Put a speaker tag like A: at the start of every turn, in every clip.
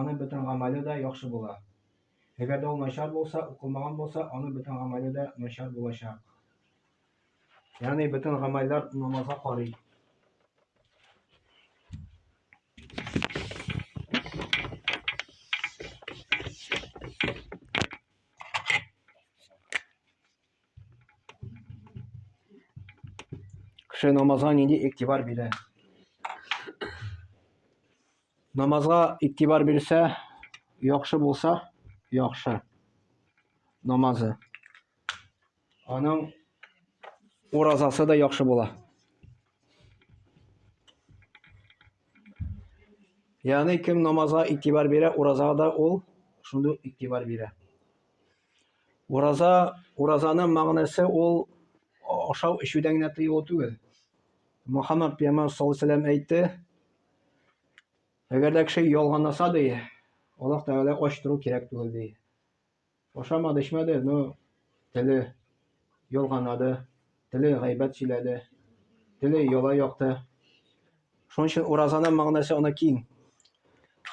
A: Аның бөтен гамәле дә яхшы була. Әгәр дә ул начар булса, укылмаган булса, аның бөтен гамәле дә начар булачак. Ягъни бөтен гамәлләр намазга карый. Кеше намазга нинди игътибар бирә? Намазга игътибар бирсә, яхшы булса, яхшы намазы. Аның уразасы да яхшы була. Ягъни кем намазга игътибар бирә, уразага да ул шундый игътибар бирә. Ураза, уразаның мәгънәсе ул ашау-эчүдән генә тыелу түгел. Мөхәммәд пәйгамбәр саллаллаһу алейһи ва сәлләм әйтте, Әгәр дә кеше ялганласа, ди, Аллаһ Тәгалә ач тору кирәк түгел, ди. Ашамады, эчмәде, но теле ялганлады, теле гайбәт сөйләде, теле яла якты. Шуның өчен уразаның мәгънәсе аны киң.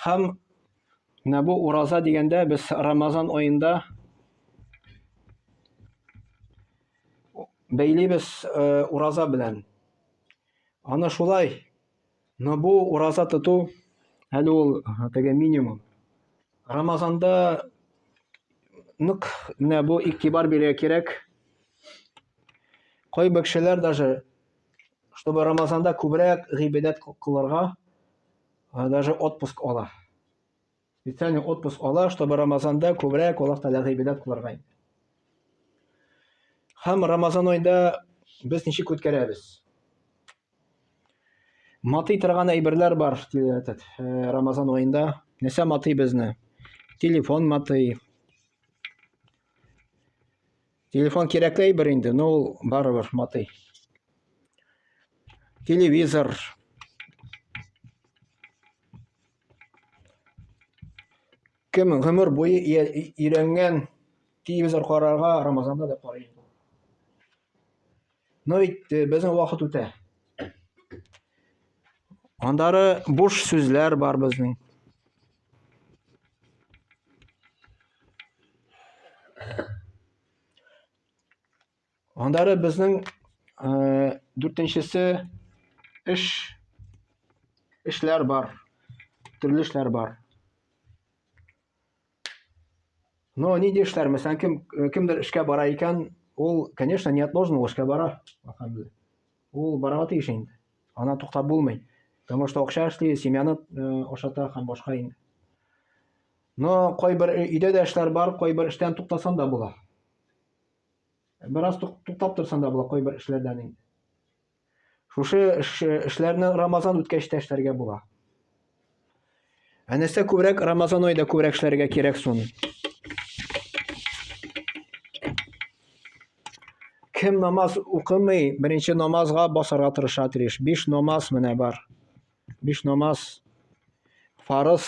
A: Һәм менә бу ураза дигәндә без Рамазан аенда бәйлибез э, ураза белән. Аны шулай Но бу ураза тоту, әле ул теге минимум. Рамазанда нык менә бу игътибар бирергә кирәк. Кайбер кешеләр даже чтобы Рамазанда күбрәк гыйбадәт кылырга даже отпуск ала. Специальный отпуск ала, чтобы Рамазанда күбрәк Аллаһ Тәгаләгә гыйбадәт кылырга инде. Һәм Рамазан айында без ничек үткәрәбез? Матый торган әйберләр бар этот э, Рамазан айында. Нәрсә матый безне? Телефон матый. Телефон кирәкле әйбер инде, но ул барыбер матый. Телевизор, Кем гомер буе өйрәнгән телевизор карарга Рамазанда да карый инде. Но ведь э, безнең вакыт үтә. Андары буш сүзләр бар безнең. Аннары безнең э, дүртенчесе эш эшләр бар, төрле эшләр бар. Но ну, нинди эшләр, мәсәлән, кем э, кемдер эшкә бара икән, ул, конечно, не отложен, ул эшкә бара. Ул барырга тиеш инде. Ана туктап булмый. Потому что акча эшли, семьяны э, ашата һәм башка инде. Но кайбер өйдә дә эшләр бар, кайбер эштән туктасан да була. Бераз туктап торсам да була кайбер эшләрдән инде. Шушы эшләрне Рамазан үткәч тә эшләргә була. Ә нәрсә күбрәк Рамазан айда күбрәк эшләргә кирәк соң? Кем намаз укымый, беренче намазга басарга тырыша тиеш. Биш намаз менә бар. Биш намаз фарыз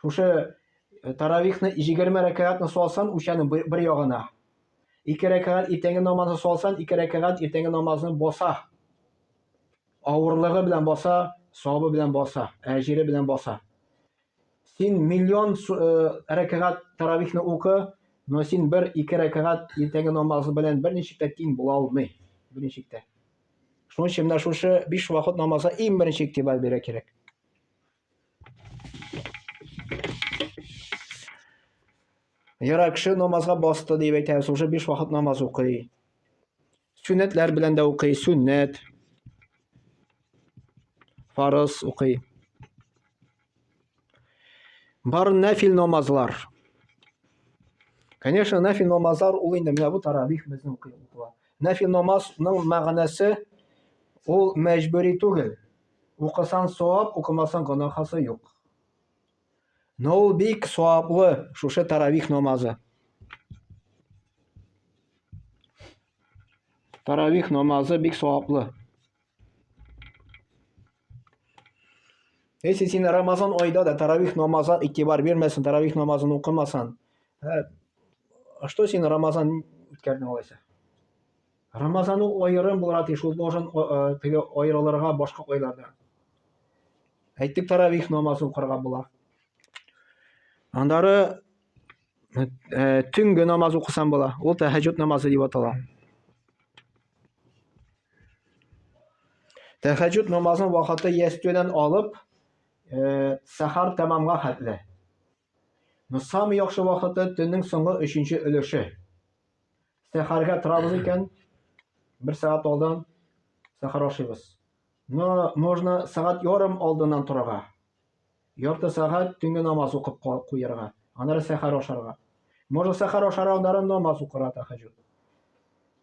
A: Шушы э, таравихны 20 рәкәгатьне салсан, үчәнең бер ягына. Ике рәкәгать иртәнге намазны салсан, ике рәкәгать иртәнге намазны баса. Авырлыгы белән баса, савабы белән баса, әҗире белән баса. Син миллион э, рәкәгать таравихны укы, но син бер ике рәкәгать иртәнге намазы белән берничек тә тиң була алмый. Берничек тә. Шуның өчен менә шушы биш вакыт намазга иң беренче игътибар бирә кирәк. Яра кеше намазга басты дип әйтәбез, уже биш вакыт намаз укый. Сүннәтләр белән дә укый, сүннәт. Фарыз укый. Бар нәфил намазлар. Конечно, нәфил намазлар ул инде менә бу таравих безнең укый. Нәфил намазның мәгънәсе ул мәҗбүри түгел. Укысан савап, укымасан гонахасы юк. Но ул бик саваплы шушы таравих намазы. Таравих намазы бик саваплы. Если син Рамазан айда да таравих намаза игътибар бирмәсен, таравих намазын укымасан, ә, что син Рамазан үткәрдең алайса? Рамазан ул аерым булырга тиеш, ул должен теге аерылырга башка айлардан. Әйтик, таравих намазын укырга була. Аннары э, төнге намаз укысан була. Ул тәһәҗҗүд намазы дип атала. Тәһәҗҗүд намазын вакыты ястүдән алып, э, сәхәр тәмамга хәтле. Нусам яхшы вакыты төннең соңгы 3 өлеше. Сәхәргә торабыз икән, бер сәгать алдан сәхәр ашыйбыз. Но можно сәгать ярым алдыннан торырга. Ярты сәгать төнге намаз укып куярга. Аннары сәхәр ашарга. Можно сәхәр ашар алдан намаз укырга тәһәҗҗүд.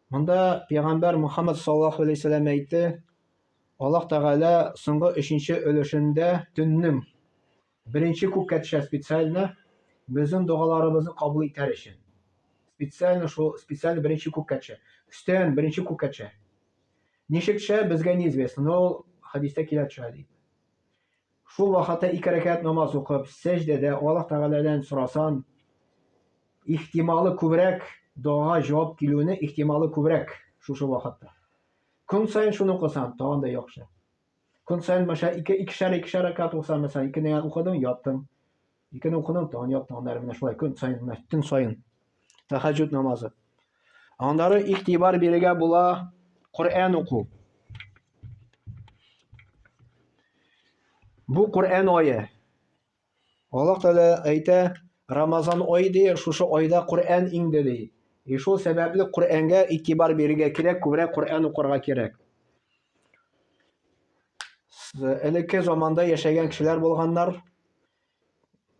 A: Монда пәйгамбәр Мухаммад саллаллаху алейһи вәсәлләм әйтте, Аллаһ Тәгалә соңгы өченче өлешендә төннең Беренче күккә төшә специально безнең догаларыбызны кабул итәр өчен. Специально шул, специально беренче күккә төшә. Өстән беренче күккә төшә. Ничек төшә, безгә неизвестно, но ул хәдистә килә төшә дип. Шул вакытта ике рәкәт намаз укып, сәҗдәдә Аллаһ Тәгаләдән сорасан, ихтималы күбрәк дога җавап килүне ихтималы күбрәк шушы вакытта. Көн саен шуны укысан, тагын да яхшы. Көн саен мәшә ике икешәр икешәр рәкәт булса, мәсәлән, икене ян укыдың, яттың. Икене укыдың, тагын яттың. Аннары менә шулай көн саен, төн саен. Тәхәҗҗүд намазы. Аннары игътибар бирергә була Коръән уку. Бу Коръән ае. Аллаһ Тәгалә әйтә, Рамазан ай ди, шушы айда Коръән иңде ди. И шул сәбәпле Коръәнгә игътибар бирергә кирәк, күбрәк Коръән укырга кирәк. Элекке заманда яшәгән кешеләр булганнар.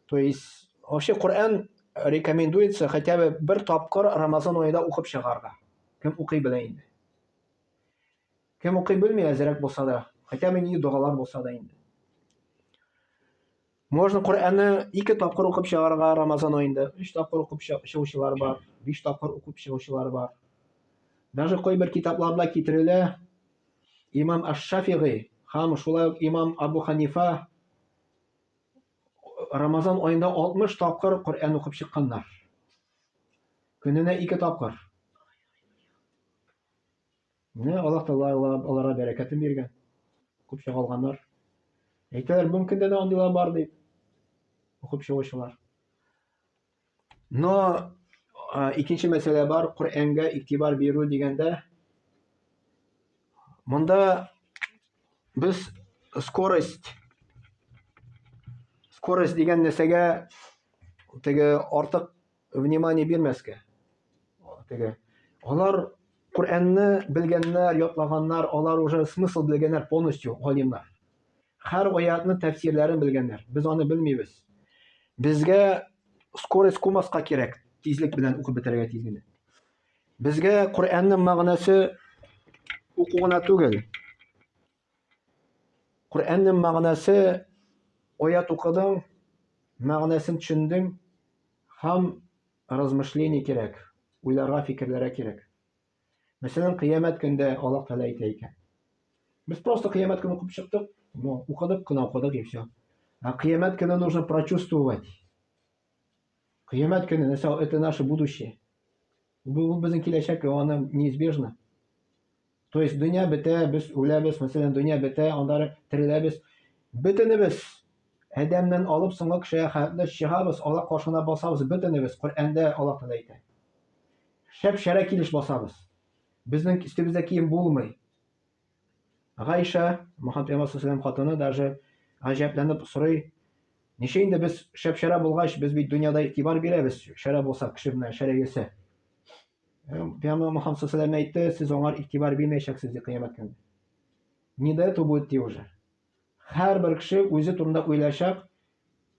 A: То есть, вообще Коръән рекомендуется хотя бы бер тапкыр Рамазан аенда укып чыгарга. Кем укый белә инде. Кем укый белми, әзерәк булса да, хотя бы ни догалар булса да инде. Можно Коръәнне ике тапкыр укып чыгарга Рамазан аенда. Өч тапкыр укып чыгучылар бар, биш тапкыр укып чыгучылар бар. Даже кайбер китапларда китерелә имам Аш-Шафигый һәм шулай ук имам Абу Ханифа Рамазан аенда 60 тапкыр Коръән укып чыкканнар. Көненә ике тапкыр. Менә Аллаһ Тәгалә аларга бәрәкәтен биргән. Укып чыгалганнар. Әйтәләр, бүгенге көндә дә андыйлар бар дип. Укып чыгучылар. Но икенче мәсьәлә бар, Коръәнгә игътибар бирү дигәндә, монда без скорость скорость дигән нәрсәгә теге артык внимание бирмәскә. Теге алар Коръәнне белгәннәр, ятлаганнар, алар уже смысл белгәннәр полностью галимнар. Һәр аятны тәфсирләрен белгәннәр. Без аны белмибез. Безгә скорость кумаска кирәк, тизлек белән укып бетерергә тиз генә. Безгә Коръәннең мәгънәсе уку гына түгел, Коръәннең мәгънәсе аят укыдың, мәгънәсен төшендең һәм размышление кирәк, уйларга, фикерләргә кирәк. Мәсәлән, кыямәт көндә Аллаһ Тәгалә әйтә икән. Без просто кыямәт көнен укып чыктык, ну, укыдык кына укыдык и все. А кыямәт көнен нужно прочувствовать. Кыямәт көне, это наше будущее. Бу ул безнең киләчәк, и аны неизбежно. То есть дөнья бетә, без үләбез, мәсәлән, дөнья бетә, анда тереләбез. Бөтенебез Адәмнән алып соңгы кешегә хәтле чыгабыз, Аллаһ каршына басабыз, бөтенебез Коръәндә Аллаһ Тәгалә әйтә. Шәп-шәрә килеш басабыз. Безнең өстебездә кием булмый. Гайша, Мөхәммәд пәйгамбәр саллаллаһу хатыны даже гаҗәпләнеп сорый, ничә инде без шәп-шәрә булгач, без бит дөньяда игътибар бирәбез, шәрә булсак, кеше белән шәрә йөрсә. Пәйгамбәр Мөхәммәд саллаллаһу әйтте, сез аңар игътибар бирмәячәксез ди кыямәт көне. Не до этого будет ди уже. Һәрбер кеше үзе турында уйлаячак,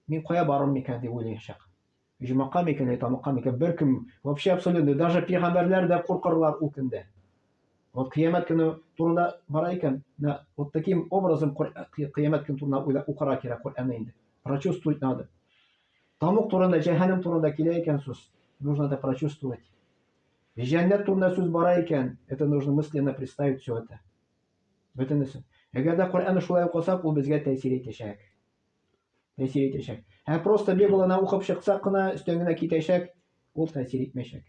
A: мин кая барырмын микән дип уйлаячак. Оҗмакка микән, я тамакка микән, беркем, вообще абсолютный, даже пигамбәрләр дә куркырлар ул көндә. Вот кыямәт көне турында бара икән, на вот таким образом кыямәт көне турында уйлап укырга кирәк Коръәнне инде. Прочувствовать надо. Тамук турында, җәһәннәм турында килә икән сүз, нужно это прочувствовать. Җәннәт турында сүз бара икән, это нужно мысленно представить все это. Бөтенесе. Әгәр дә Коръәнне шулай укысак, ул безгә тәэсир итәчәк. тәэсир итәчәк. Һәм просто Библияне укып чыксак кына, өстән генә китәчәк, ул тәэсир итмәячәк.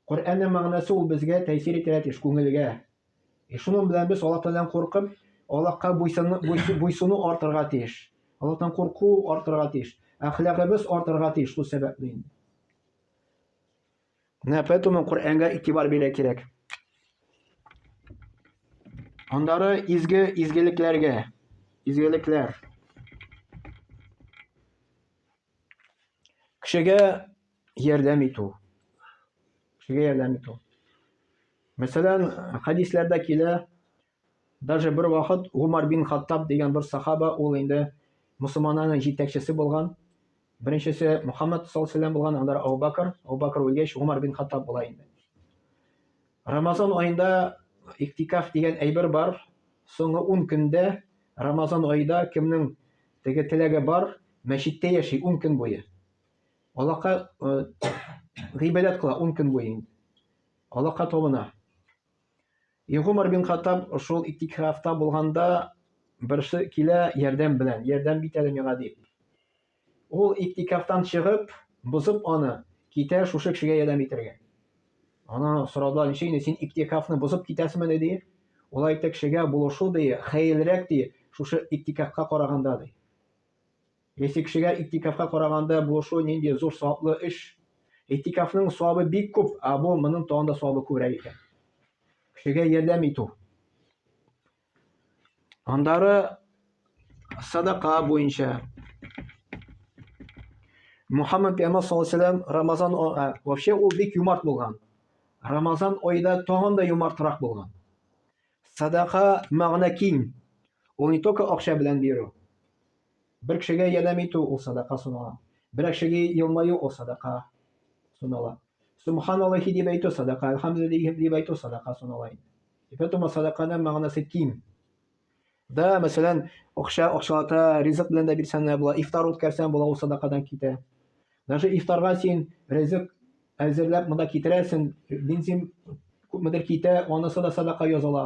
A: Коръәннең мәгънәсе ул безгә тәэсир итәргә тиеш, күңелгә. И шуның белән без Аллаһ Тәгаләдән куркып, Аллаһка буйсыну артырга тиеш. Аллаһтан курку артырга тиеш. Әхлагыбыз артырга тиеш шул сәбәпле инде. Менә поэтому Коръәнгә игътибар бирә кирәк. Андары изге изгелекләргә, изгелекләр. Кешегә ярдәм итү. Кешегә ярдәм итү. Мәсәлән, хәдисләрдә килә, Даже бер вакыт Гомар бин Хаттаб дигән бер сахаба, ул инде мөселманнарның җитәкчесе булган, беренчесе Мөхәммәд саллаллаһу галәйһи ва сәлләм булган, аннары Әбу Бәкер, Әбу Бәкер үлгәч, Гомар бин Хаттаб була инде. Рамазан аенда иктикаф дигән әйбер бар, соңгы ун көндә Рамазан аенда кемнең теге теләге бар, мәчеттә яши ун көн буе. Аллаһка гыйбадәт кыла ун көн буе инде. Аллаһка табына. И Гомар бин Хаттаб шул иттикрафта булганда берсе килә ярдәм белән, ярдәм бит әле миңа дип. Ул иттикрафтан чыгып, бозып аны, китә шушы кешегә ярдәм итәргә. Ана сорадылар, ничек инде син иттикрафны бозып китәсеңме ди. Ул әйтте, кешегә булышу ди, хәерлерәк ди, шушы иттикрафка караганда ди. Ничек кешегә и'тикафка караганда булышу нинди зур саваплы эш? И'тикафның савабы бик күп, ә бу моның тагын да савабы күбрәк икән. Кешегә ярдәм итү. Аннары садака буенча Мухаммад пәйгамбәр саллаллаху алейһи вәсәлләм Рамазан ә, вообще ул бик юмарт булган. Рамазан айда тагын да юмартрак булган. Садака мәгънә киң. Ул не только акча белән бирү. Бер кешегә ярдәм итү ул садака санала. Берәр кешегә елмаю ул садака санала. Субхан Аллахи дип әйтү садака, Әлхәмдүлиллахи дип әйтү садака санала инде. И поэтому садаканың мәгънәсе киң. Да, мәсәлән, акча акчалата ризык белән дә бирсәң дә була, ифтар үткәрсәң була, ул садакадан китә. Даже ифтарга син ризык әзерләп монда китерәсең, бензин күпмедер китә, анысы да садака языла.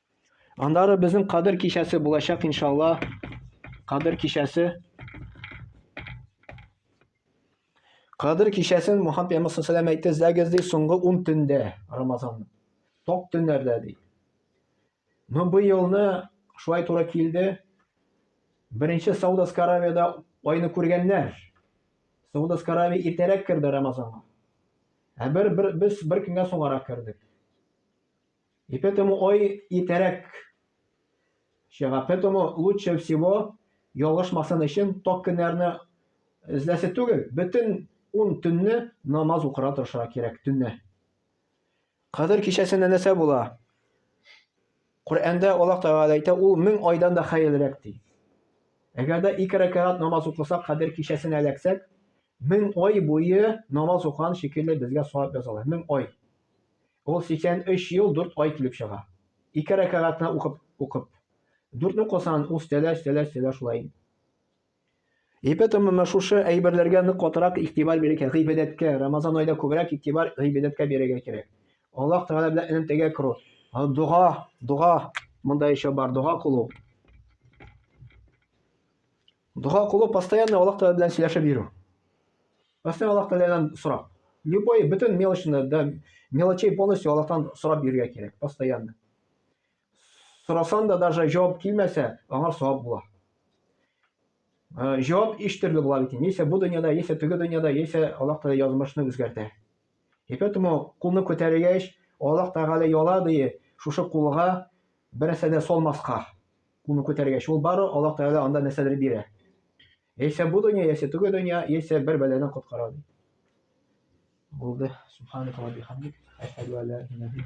A: Аннары безнең кадер кичәсе булачак иншалла. Кадер кичәсе. Кадер кичәсен Мухаммед пәйгамбер саллаллаху алейһи әйтте, "Зәгез ди соңгы 10 төндә Рамазан. Ток төннәрдә ди." Но бу елны шулай туры килде. Беренче Саудовская Аравиядә айны күргәннәр. Саудовская Аравия иртәрәк керде Рамазанга. Ә бер, бер без бер көнгә соңарак кердек. И поэтому, ой, и терек. Чыга. Поэтому лучше всего ялгышмасын өчен ток көннәрне эзләсе түгел, бөтен ун төнне намаз укыра торыша кирәк төнне. Кадер кичәсендә нәрсә була? Коръәндә Аллаһ Тәгалә әйтә, ул мең айдан да хәерлерәк ди. Әгәр дә ике рәкәгать намаз укысак, кадер кичәсенә эләксәк, мең ай буе намаз укыган шикелле безгә савап язалар. Мең ай. Ул 83 ел 4 ай килеп чыга. Ике рәкәгатьне укып, укып. Дүртне кылсаң, ул өстәлә, өстәлә, өстәлә шулай инде. Епетом менә шушы әйберләргә нык катырак игътибар бирергә, гыйбадәткә, Рамазан айда күбрәк игътибар гыйбадәткә бирергә кирәк. Аллаһ Тәгалә белән элемтәгә керү. Дога, дога, монда еще бар, дога кылу. Дога кылу постоянно Аллаһ Тәгалә белән сөйләшеп йөрү. Постоянно Аллаһ Тәгаләдән сорап. Любой бөтен мелочны да мелочей полностью Аллаһтан сорап йөрергә кирәк, постоянно. Сорасан да даже җавап килмәсә, аңа савап була. Җавап иш төрле була бит. Яисә бу дөньяда, яисә теге дөньяда, яисә Аллаһ Тәгалә язмышны үзгәртә. И поэтому кулны күтәргәч, Аллаһ Тәгалә яла дие, шушы кулга бернәрсә дә салмаска. Кулны күтәргәч, ул бары Аллаһ Тәгалә анда нәрсәдер бирә. Яисә бу дөнья, яисә теге дөнья, яисә бер бәладән коткара ди. Булды. Субханаллаһи ва бихамдик. Әшһәду ан ла иляха илля